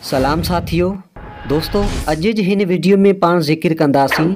سلام ساٿيو دوستو اڄ جي هن وڊيو ۾ پاڻ ذڪر ڪنداسين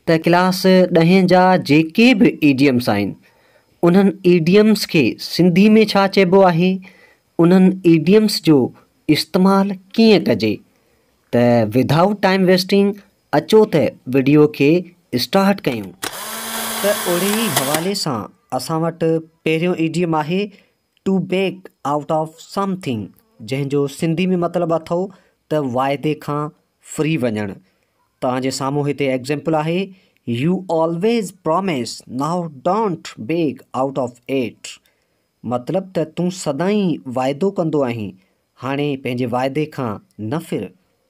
ته ڪلاس ڏهين جا جيڪي به ايڊيمس آهن انهن ايڊيمس کي سنڌي ۾ ڇا چئبو آهي انهن ايڊيمس جو استعمال ڪيئن ڪجي ته ود آئوٽ ٽائيم ويسٽنگ اچو ته وڊيو کي اسٽارٽ ڪيون ته اڙي حوالي سان اسان وٽ پهريون ايڊيم آهي to back out of something جنهن جو سنڌي ۾ مطلب اٿو ته واعدي کان ڦري وڃڻ توهان جي سامهون هتي ايگزيمپل آهي you always promise now don't back out of it مطلب ته تون سدائين واعدو ڪندو آهين هاڻي پنهنجي واعدي کان نه ڦر.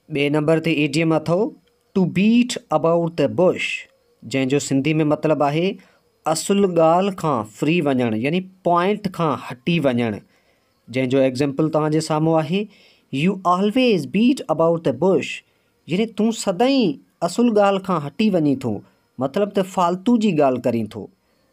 ٻئي نمبر تي اي ڊي ايم اٿئو to beat about the bush جنهن جو سنڌي ۾ مطلب آهي اصل ڳالهه کان ڦري وڃڻ يعني پوائنٽ کان هٽي وڃڻ جنهن جو ايگزيمپل توهان جي سامهون آهي you always beat about the bush يعني تون سدائين اصل ڳالهه کان هٽي وڃين ٿو مطلب ته فالتو جي ڳالهه ڪرين ٿو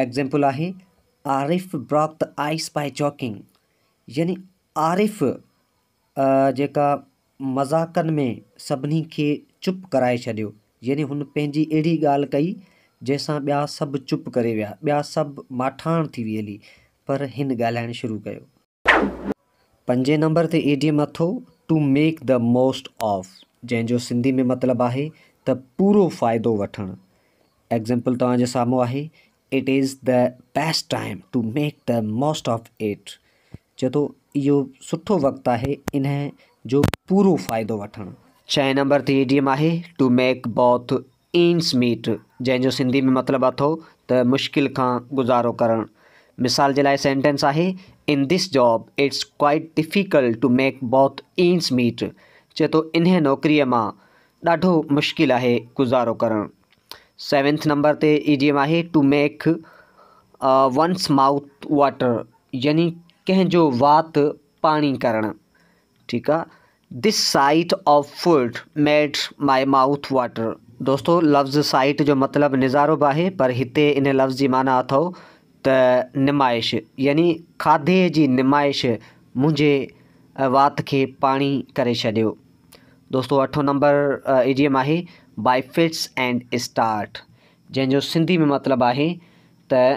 ايگزيمپل آهي Arif broke the ice by joking يعني عارف جيڪا مذاقن ۾ سڀني کي چپ ڪرائي ڇڏيو يعني هن پنهنجي اهڙي ڳالهه ڪئي جنهن سان ٻيا سڀ چپ ڪري ويا ٻيا سڀ ماٺاڻ ٿي ويلي پر هن ڳالهائڻ شروع ڪيو. پنجين نمبر تي ايڊيم اٿو to make the most of جنهن جو سنڌي ۾ مطلب آهي ته پورو فائدو وٺڻ. ايگزيمپل توهان جي سامهون آهي it is the best time to make the most of it چئي ٿو اهو سٺو وقت آهي انهي جو پورو فائدو وٺڻ. ڇهين نمبر تي ايڊيم آهي to make both ends meet, جنهن جو سنڌي ۾ مطلب اٿو ته مشڪل کان گذارو ڪرڻ. مثال جي لاء سينٽينس آهي، in this job it's quite difficult to make both ends meet, چئي ٿو انهيء نوڪريء مان ڏاڍو مشڪل آهي گذارو ڪرڻ. سيونٿ نمبر تي ايڊيم آهي، to make one's mouth water يعني ڪنهن جو وات پاڻي ڪرڻ. ٺيڪ آ This sight of food made my mouth water دوستو لفظ سائيٽ جو مطلب نظارو به آهي پر هتي ان لفظ جي معنيٰ اٿئو ته نمائش يعني کاڌي جي نمائش منهنجي وات کي پاڻي ڪري ڇڏيو دوستو اٺون نمبر ايڊيم آهي باء فٽس اينڊ اسٽارٽ جنهن جو سنڌي ۾ مطلب آهي ته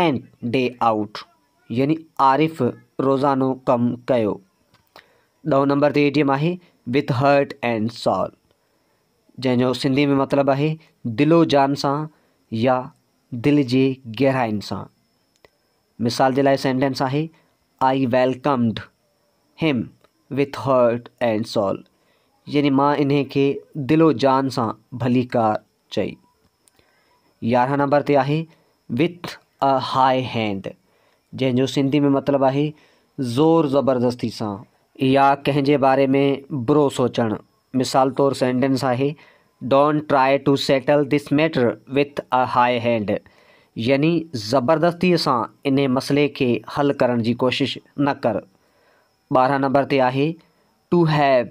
اينڊ ڊي آئوٽ يعني عارف روزانو ڪم ڪيو. ڏهون نمبر تي ايڊيم آهي وٿ هرٽ اينڊ سال جنهن جو سنڌي ۾ مطلب آهي دل و جان سان يا دل جي گهرائين سان. مثال جي لاء سينٽينس آهي آئي ويلڪمڊ هيم وٿ هرٽ اينڊ سال يعني مان انهي کي دل و جان سان ڀليڪار چئي. يارهن نمبر تي آهي With a High Hand جنهن جو سنڌي ۾ مطلب آهي زور زبردستي سان يا ڪنهن جي باري ۾ برو سوچڻ مثال طور سينٽينس آهي Don't try to settle this matter with a high hand يعني زبردستي سان انهي مسئلي کي حل ڪرڻ جي ڪوشش نه ڪر. ٻارهن نمبر تي آهي To have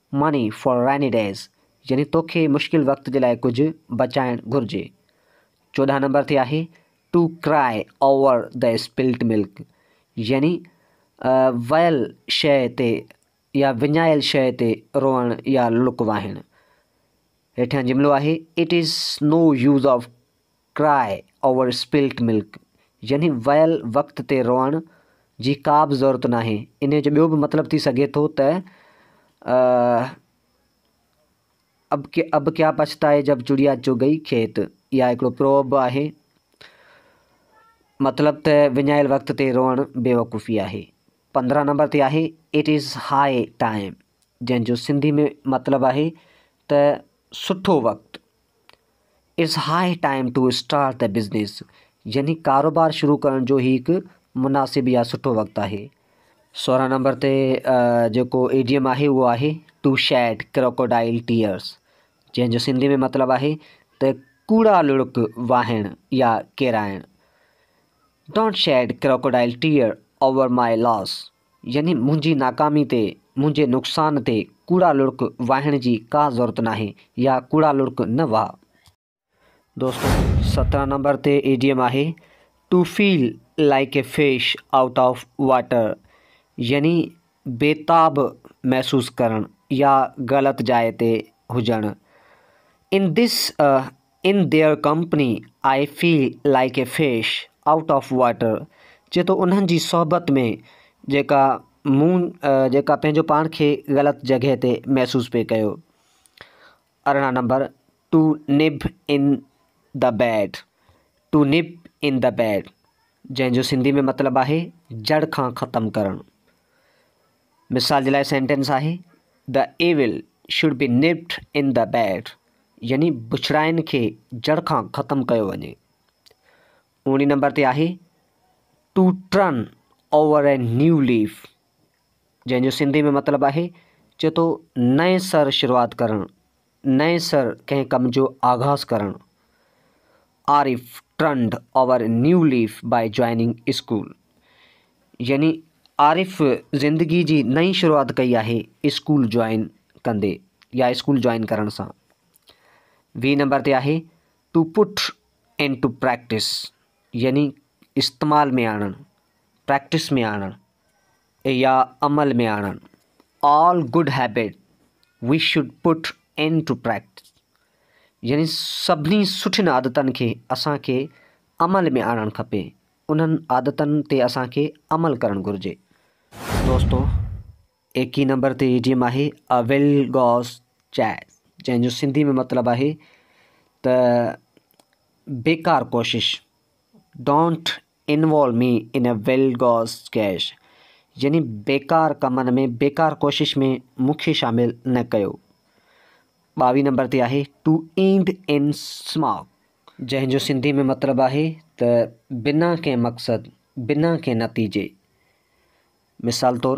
ماني فار ريني ڊيز يعني توکي مشڪل وقت جي لاء ڪجهه بچائڻ گهرجي. چوڏهن نمبر تي آهي ٽو ڪرائي اوور دي اسپلٽ ملڪ يعني ويل شيء تي يا وڃايل شيء تي روئڻ يا لڪ واهڻ. هيٺيان جملو آهي it is no use of Cry Over Spilt Milk يعني ويل وقت تي روئڻ جي ڪابه ضرورت ناهي. انهيء جو ٻيو به مطلب ٿي سگهي ٿو ته اب اب ڪيا پڇتائي جب چڙيا چگ گئي کيت يا هڪڙو پروورب به آهي. مطلب ته وڃايل وقت تي روئڻ بيوقوفي آهي. پندرهن نمبر تي آهي It is High Time جنهن جو سنڌي ۾ مطلب آهي ته سٺو وقت. It's high time to start the business يعني ڪاروبار شروع ڪرڻ جو هي هڪ مناسب يا سٺو وقت آهي. سورهن نمبر تي جيڪو ايڊيم آهي اهو آهي ٽو شيڊ ڪروڪوڊائل ٽيئرس جنهن جو سنڌي ۾ مطلب آهي ته ڪوڙا لڙڪ واهڻ يا ڪيرائڻ don't shed crocodile tear over my loss يعني منهنجي ناڪامي تي، منهنجي نقصان تي ڪوڙا لڙڪ واهڻ جي ڪا ضرورت ناهي يا ڪوڙا لڙڪ نه واهه. دوستو سترهن نمبر تي ايڊيم آهي to feel like a fish out of water يعني بيتاب محسوس ڪرڻ يا غلط جاء تي هجڻ in this in their company I feel like a fish out of water چي ٿو انهن جي صحبت ۾ جيڪا مون جيڪا پنهنجو پاڻ کي غلط جڳهه تي محسوس پئي ڪيو ارڙهن number to nip in the bud to nip in the bud جنهن جو سنڌي ۾ مطلب آهي جڙ کان ختم ڪرڻ مثال جي لاء سينٽينس آهي The evil should be nipped in the bud يعني بڇڙاين کي جڙ کان ختم ڪيو وڃي. اوڻي نمبر تي آهي To turn over a new leaf جنهن جو سنڌي ۾ مطلب آهي چي تو نئين سر شروعات ڪرڻ نئين سر ڪنهن ڪم جو آغاز ڪرڻ Arif turned over a new leaf by joining school يعني عارف زندگي جي نئين شروعات ڪئي آهي اسڪول جوائن ڪندي يا اسڪول جوائن ڪرڻ سان ويهه نمبر تي آهي to put in to practice يعني استعمال ۾ آڻڻ پريڪٽس ۾ آڻڻ يا عمل ۾ آڻڻ All good habits we should put into practice يعني سڀني سٺين عادتن کي اسان کي عمل ۾ آڻڻ کپي، انهن عادتن تي اسان کي عمل ڪرڻ گهرجي. دوستو ايڪيهين نمبر تي ايڊيم آهي A well goes chase جنهن جو سنڌي ۾ مطلب آهي ته بيڪار ڪوشش Don't Involve me in a well goes cash يعني بيڪار ڪمن ۾ بيڪار ڪوشش ۾ مون کي شامل نه ڪيو. ٻاويهه نمبر تي آهي To end in smoke جنهن جو سنڌي ۾ مطلب آهي ته بنا ڪنهن مقصد، بنا ڪنهن نتيجي. مثال طور،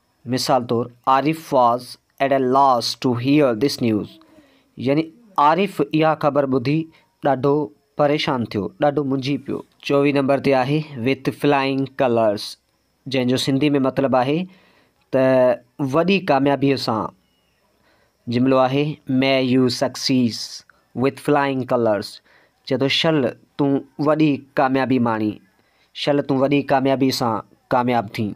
مثال طور Arif was at a loss to hear this news يعني عارف اها خبر ٻڌي ڏاڍو پريشان ٿيو، ڏاڍو منجهي پيو. چوويهه نمبر تي آهي وٿ فلائنگ ڪلرس جنهن جو سنڌي ۾ مطلب آهي ته وڏي ڪاميابيء سان جملو آهي may you success with flying colours چئي ٿو شل تون وڏي ڪاميابي ماڻي شل تون وڏي ڪاميابي سان ڪامياب ٿين.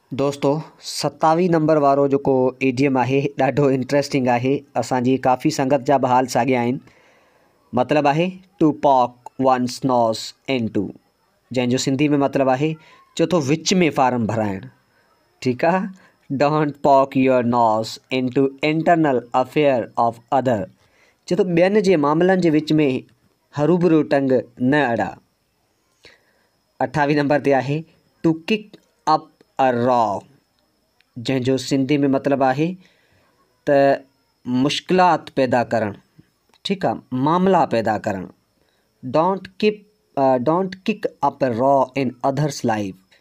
دوستو ستاوي نمبر وارو جيڪو ايڊيم آهي ڏاڍو انٽريسٽنگ آهي اسان جي ڪافي سنگت جا به حال ساڳيا آهن مطلب آهي ٽو پاڪ ون سنوس ان ٽو جنهن جو سنڌي ۾ مطلب آهي چو ٿو وچ ۾ فارم ڀرائڻ ٺيڪ آهي don't poke your nose in to internal affair of other چو ٿو ٻين جي معاملن جي وچ ۾ ھروبھرو ٽنگ نه اڙا اٺاويهين نمبر تي آهي ٽو ڪڪ اپ ا را جنهن جو سنڌي ۾ مطلب آهي ته مشڪلات پيدا ڪرڻ ٺيڪ آ معاملا پيدا ڪرڻ don't kick don't kick up a row in اڌرس life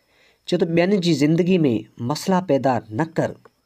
چي ته ٻين جي زندگي ۾ مسئلا پيدا نه ڪر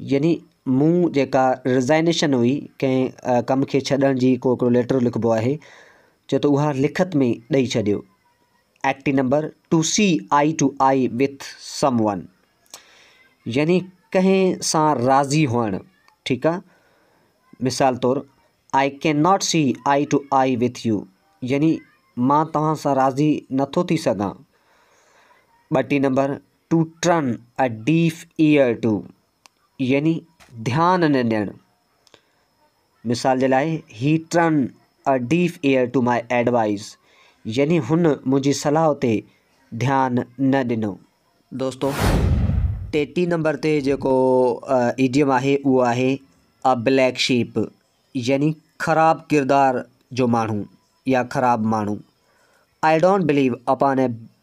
يعني مون جيڪا رزائنيشن هئي ڪنهن ڪم کي ڇڏڻ جي ڪو هڪڙو ليٽر لکبو آهي چيو ته اها لکت ۾ ڏئي ڇڏيو ايڪٽي number to see eye to eye with someone يعني ڪنهن سان راضي هئڻ ٺيڪ آ مثال طور I can not see eye to eye with you يعني مان توهان سان راضي نٿو ٿي سگهان ٻٽي number to turn a deaf ear to يعني ڌيان نه ڏيڻ مثال جي لاء هي turn a deaf ear to my advice يعني هن منهنجي صلاح تي ڌيان نه ڏنو دوستو ٽيٽي نمبر تي جيڪو ايڊيم آهي اهو آهي ا بليڪ شيپ يعني خراب ڪردار جو ماڻهو يا خراب ماڻهو I don't believe upon a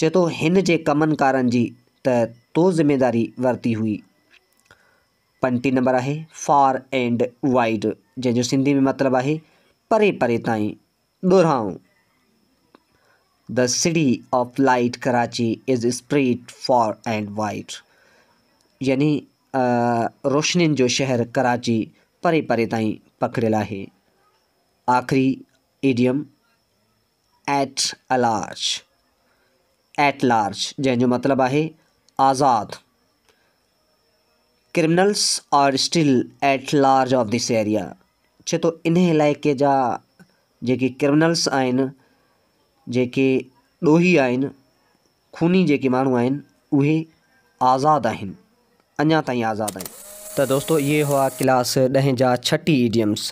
چئي ٿو هن جي ڪمن ڪارن جي ته تو ذميداري ورتي هئي. پنٽي نمبر آهي فار اينڊ وائيڊ جنهن جو سنڌي ۾ مطلب آهي پري پري تائين ڏورانهون. The city of light Karachi is spread far and wide. يعني روشنين جو شهر ڪراچي پري پري تائين پکڙيل آهي. آخري idiom at large, At Large، جنهن جو مطلب آهي آزاد، criminals are still at large of this area, چئي ٿو انهي علائقي جا جيڪي ڪرمنلز آهن، جيڪي ڏوهي آهن، خوني جيڪي ماڻهو آهن اهي آزاد آهن اڃا تائين آزاد آهن. ته دوستو اهي هئا ڪلاس ڏهين جا ڇهه ٽي ايڊيمس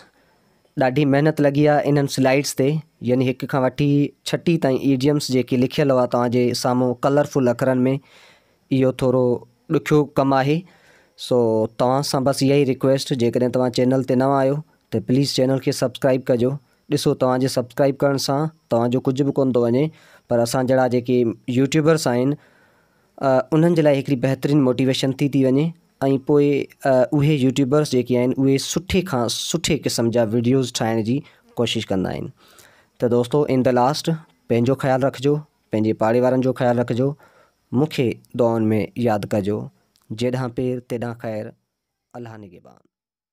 ڏاڍي محنت لڳي آهي انهن سلائيڊس تي يعني هڪ کان وٺي ڇهه ٽي تائين ايڊيمس جيڪي لکيل هئا توهان جي سامهون ڪلر فل اکرن ۾ اهو ٿورو ڏکيو ڪم آهي سو توهان سان بس اها ئي رڪويسٽ جيڪڏهن توهان چينل تي نوان آهيو ته پليز چينل کي سبسڪرائيب ڪجو ڏسو توهان جي سبسڪرائيب ڪرڻ سان توهان جو ڪجهه به ڪونه ٿو وڃي پر اسان جهڙا جيڪي يوٽيوبرس آهن انهن جي لاء هڪڙي بهترين موٽيويشن ٿي ٿي وڃي ۽ پوء اهي يوٽيوبرس جيڪي آهن اهي سٺي کان سٺي قسم جا ويڊيوز ٺاهڻ جي ڪوشش ڪندا آهن ته دوستو ان د لاسٽ پنهنجو خيال رکجو پنهنجي پاڙي وارن جو خيال رکجو مونکي دعائن ۾ ياد ڪجو جيڏانهن پير تيڏانهن خير الله نگهبان